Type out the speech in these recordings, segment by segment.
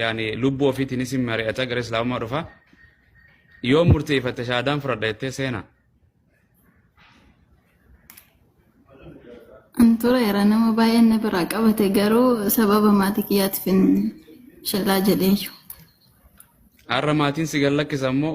yaani lubbuu ofiitiinis hin mari'ata gara islaamummaa dhufa yoo murteeffatte shaadaan fudhadha jettee seena An tureera nama baay'een na biraa qabate garuu sababa maatii kiyyaatiif hin shallaa jedheeyyu. har'a maatiin si gallakkisa immoo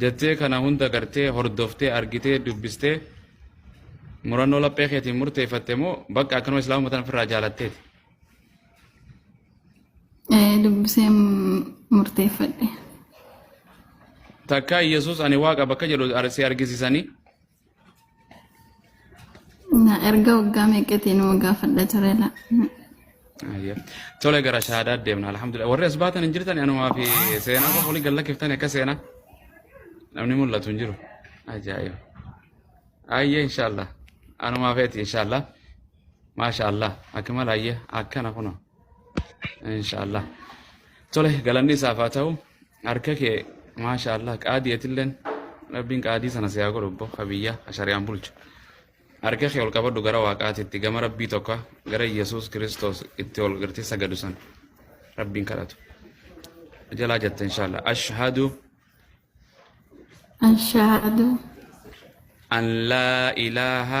Jettee kana hunda gartee, hordoftee, argitee, dubbistee, murannoo laphee keetiin murteeffatte moo bakka akkanuma islaamuma tana ofirraa jaalatteeti? Eh, dubbisee m- murteeffadhe. Takkaa Yesuus ani waaqa bakka jedhu ar- si argisiisanii Na erga waggaa meeqatii nama gaafadha ture la. Ayya. Tole gara shahaadaa deemna alhamdulillah. Warri as baatan hin jirtan anumaa fi seenaa qofa waliin galla kiftani akka seenaa. Namni mul'atu hin jiru. Ajaa'iba. Ayya inshaallah. Anumaa feeti inshaallah. Maasha Allah. Akmal ayya akkana kuno. Insha Allah. Tole galanni isaaf haa ta'u. Harka kee maasha Allah qaadii atilleen rabbiin qaadii sana si haa godhu obbo Habiyyaa Ashariyaan bulchu. Harka kee ol qabadhu gara waaqaatitti gama rabbii tokko gara Yesuus Kiristoos itti ol gartee sagadu san rabbiin kadhatu. Jalaa jette insha Allah. Ashhadu أشهد an laa ilaaha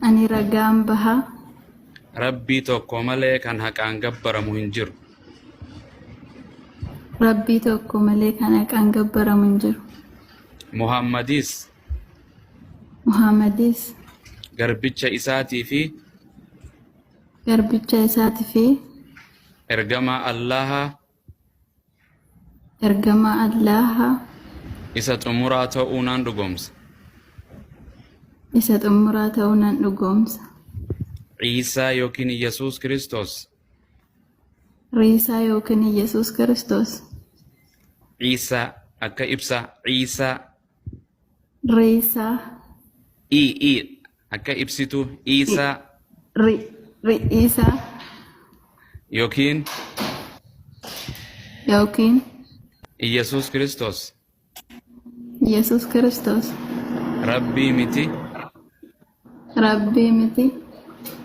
Ani ragaan baha. Rabbii tokko malee kan haqaan gabbaramu hin jiru. Rabbii tokko malee kan haqaan gabbaramu hin jiru. Muhammadis Muhammadis garbicha isaatii fi garbicha isaatii fi ergamaa Allaha Ergamaa Allaaha Isa xumuraa ta'uu nan dhugoomsa. isa xumuraa ta'uu nan dhugoomsa. Ciisaa yookiin Yesuus Kiristoos. Riisaa yookiin Yesuus Kiristoos. Ciisaa akka ibsaa. Ciisaa. Riisaa. I i Akka ibsitu Iisaa. Ri, ri, Iisaa. Yookiin. Yookiin. Iyyasuus Kiristoos. Iyyasuus Kiristoos. Rabbii miti. Rabbii miti.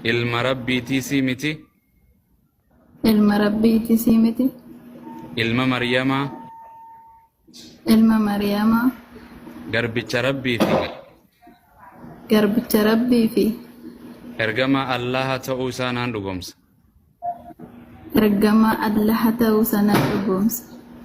Ilma Rabbiitiisii miti. Ilma Rabbiitiisii miti. Ilma Maryamaa. ilma Mariyamaa garbicha Rabbii fi garbicha Rabbii fi ergamaa Allaha ta'uu isaa naan dhugoomsa. ergamaa Allaha ta'uu isaa naan dhugoomsa.